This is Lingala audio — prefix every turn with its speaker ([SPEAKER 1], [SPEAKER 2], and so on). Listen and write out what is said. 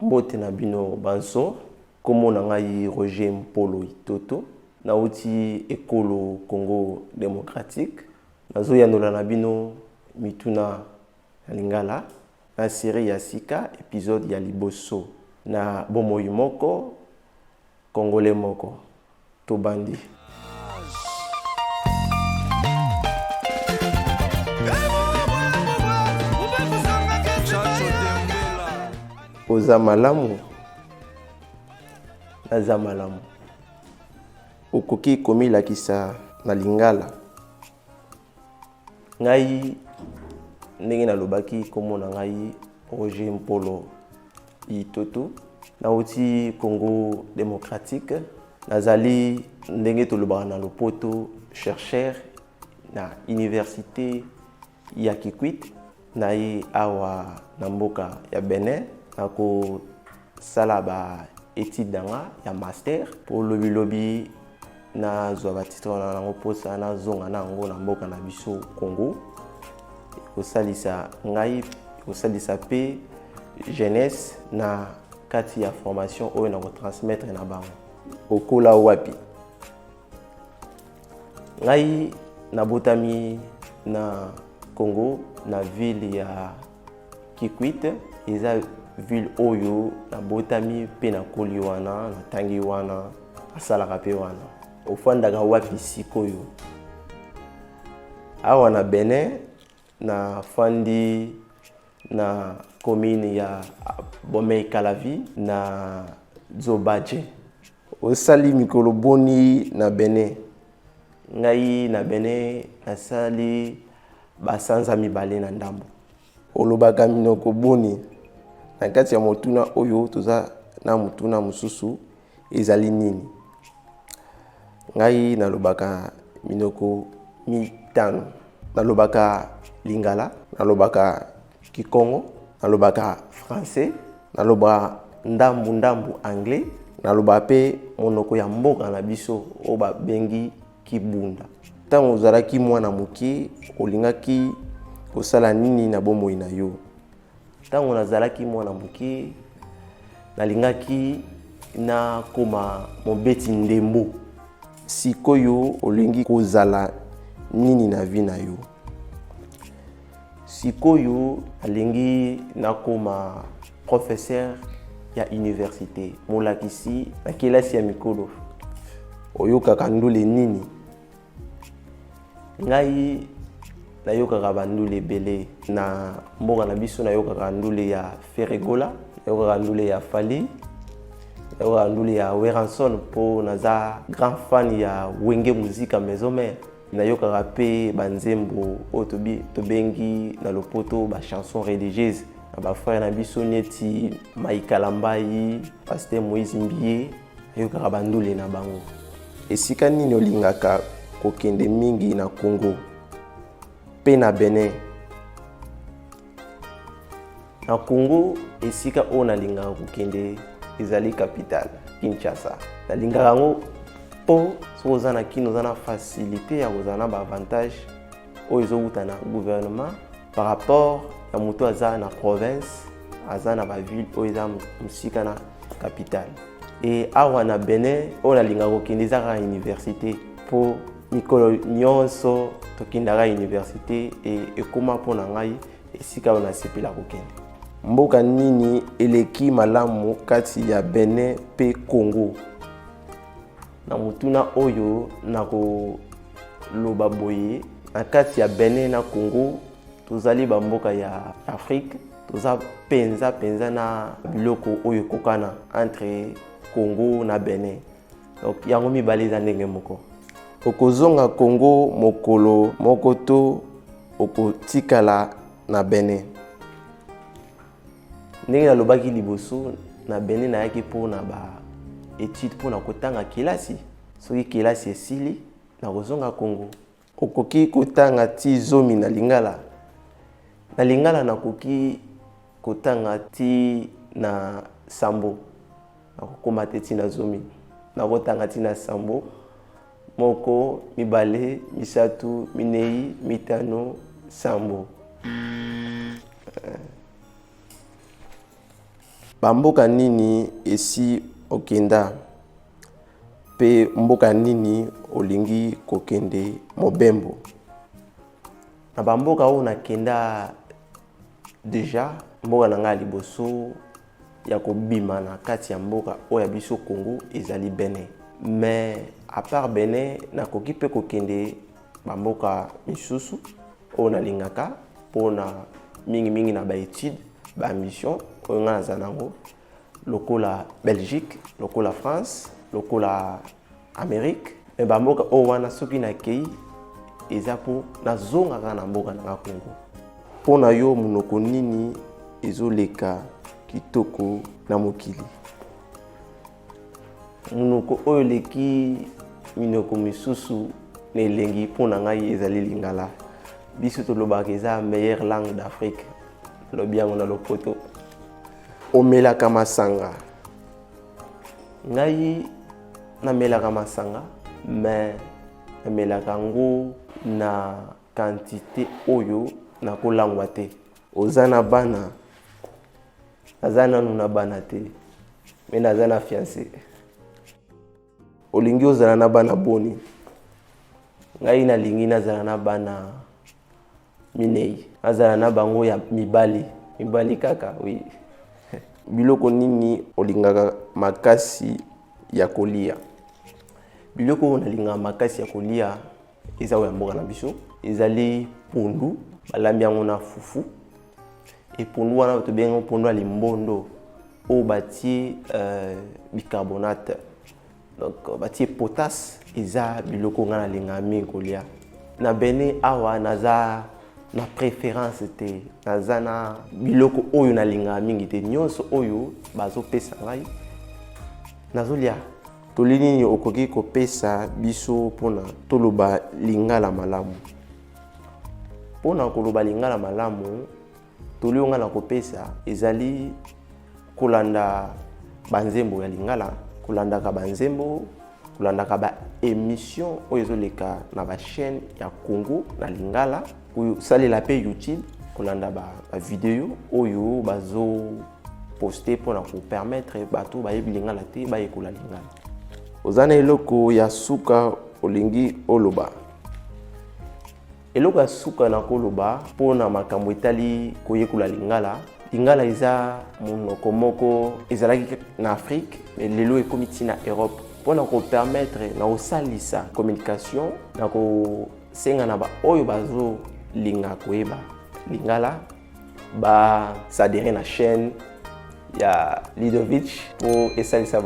[SPEAKER 1] Mbote na bino banso, kombo na ngai Roger Mpolo Itoto, nawuti ekolo Congo democratique. Nazo yanola na bino mituna na lingala na serie ya sika, episode ya liboso na bomoi moko, congolais moko. tobandi. oza malamu naza malamu okoki komilakisa na lingala ngai ndenge nalobaki nkombo na ngai roger mpolo itoto nauti congo démocratique nazali ndenge tolobaka na lopoto chercheur na université ya kikwit naye awa na mboka ya benin nakosala ba étude na nga ya master mpo lobilobi nazwa batitre wana nango mposa nazonga na yango na mboka na biso congo ekosalisa ngai ekosalisa mpe jeunesse na kati ya formation oyo nakotransmettre na bango okola wapi ngai nabotami na congo na ville ya kikwit eza ville oyo nabotami mpe nakoli wana natangi wana asalaka mpe wana ofandaka wapi sikoyo awa na benin nafandi na commune ya bomei kalavi na zobaje Osali mikolo boni na Benin? Ngai na Benin nasali basanza mibale na ndambo. Olobaka minoko boni? Na kati ya motuna oyo toza na motuna mosusu ezali nini? Ngai nalobaka minoko mitano. Nalobaka Lingala, nalobaka kikongo nalobaka français nalobaka ndambu ndambu anglais nalobaka mpe monoko ya mboka na biso oyo babengi kibunda ntango ozalaki mwana moke olingaki kosala nini na bomoi na yo ntango nazalaki mwana moke nalingaki nakoma mobeti ndembo sikoyo olingi kozala nini na vi na yo Sikoyo alingi nakoma professeur ya université molakisi na kelasi ya mikolo oyokaka ndule nini ngai nayokaka bandule ebele na mboka na biso nayokaka ndule ya feregola nayokaka ndule ya fali nayokaka ndule ya weranson mpo naza grand fan ya wenge muzika maison mare nayokaka mpe banzembo oyo tobengi na lopoto bachanson religieuse na bafrere na biso neti maikalambai paster moïse mbie ayokaka bandule na bango esika nini olingaka kokende mingi na congo mpe na benin Na Congo, esika oyo nalingaka kokende ezali capitale Kinshasa. Nalingaka yango mpo soki oza na kino oza na facilité ya kozala na baavantage oyo ezowuta na gouvernement par rapport ya moto aza na province aza na baville oyo eza mosika na capitale e awa na benin oyo nalingaka kokende eza kaka université mpo mikolo nyonso tokendaka universite e, ekoma mpo na ngai esika oyo nasepela kokende mboka nini eleki malamu kati ya benin mpe congo na motuna oyo nakoloba boye na kati ya benin na congo tozali bamboka ya afrique toza mpenza mpenza na biloko oyo ekokana entre congo na benin donc yango mibale eza ndenge moko okozonga congo mokolo moko to okotikala na bene ndenge nalobaki liboso na bene nayaki mpo na baetude mpo na kotanga kelasi soki kelasi esili nakozonga congo Okoki kotanga ti zomi na lingala? Na lingala nakoki kotanga ti na sambo. Nakokoma te ti na zomi. Nakotanga ti na sambo. Moko, mibale, misatu, minei, mitano, sambo. Bamboka nini esi okenda? Mpe mboka nini olingi kokende mobembo? Na bamboka oyo nakenda deja, mboka na ngai ya liboso ya kobima na kati ya mboka oyo ya biso Congo ezali Benin. Mais à part Benin, nakoki mpe kokende bamboka misusu oyo nalingaka mpona mingimingi na baetude, bamission oyo ngai naza nango. lokola belgique lokola france lokola amérique me bamboka oyo wana soki nakei eza mpo nazongaka na mboka nanga congo mpo na yo monoko nini ezoleka kitoko na mokili monoko oyo eleki minoko misusu na elengi mpo na ngai ezali lingala biso tolobaka eza meilleure langue d'afrique lobi yango na lopoto omelaka masanga ngai namelaka masanga mais namelaka yango na quantité oyo nakolangwa te oza na bana naza nanu na bana te me naza na fiance Olingi ozala na bana boni? Ngai nalingi nazala na bana minei. Nazala na bango ya mibali, mibali kaka, oui. Biloko nini olingaka makasi ya kolia? Biloko oyo nalingaka makasi ya kolia eza oyo ya mboka na biso ezali pondu balambi yango na fufu epondu wana tobengi yango pondu ya limbondo oyo batie euh, bicarbonate donc euh, batie potasse eza biloko ngai nalingaka mingi kolia na bene awa naza na préférence te naza na biloko oyo nalingaka mingi te nyonso oyo bazopesa ngai nazolia Toli nini okoki kopesa biso mpo na toloba lingala malamu? Mpo na koloba lingala malamu, toli oyo ngai nakopesa ezali kolanda banzembo ya lingala, kolandaka banzembo, kolandaka baemission oyo ezoleka na bachaîne ya Congo na lingala. kosalela mpe youtube kolanda bavideo oyo bazo poste mpo na kopermettre bato bayebi lingala te bayekola lingala oza na eloko ya suka olingi oloba eloko ya suka na koloba mpo na makambo etali koyekola lingala lingala eza monoko moko ezalaki na afrike lelo ekomi ntina europe mpo na kopermettre na kosalisa communication na ko senga na baoyo bazolinga koyeba lingala basadere na chaîne ya lidovich mpo esalisa bango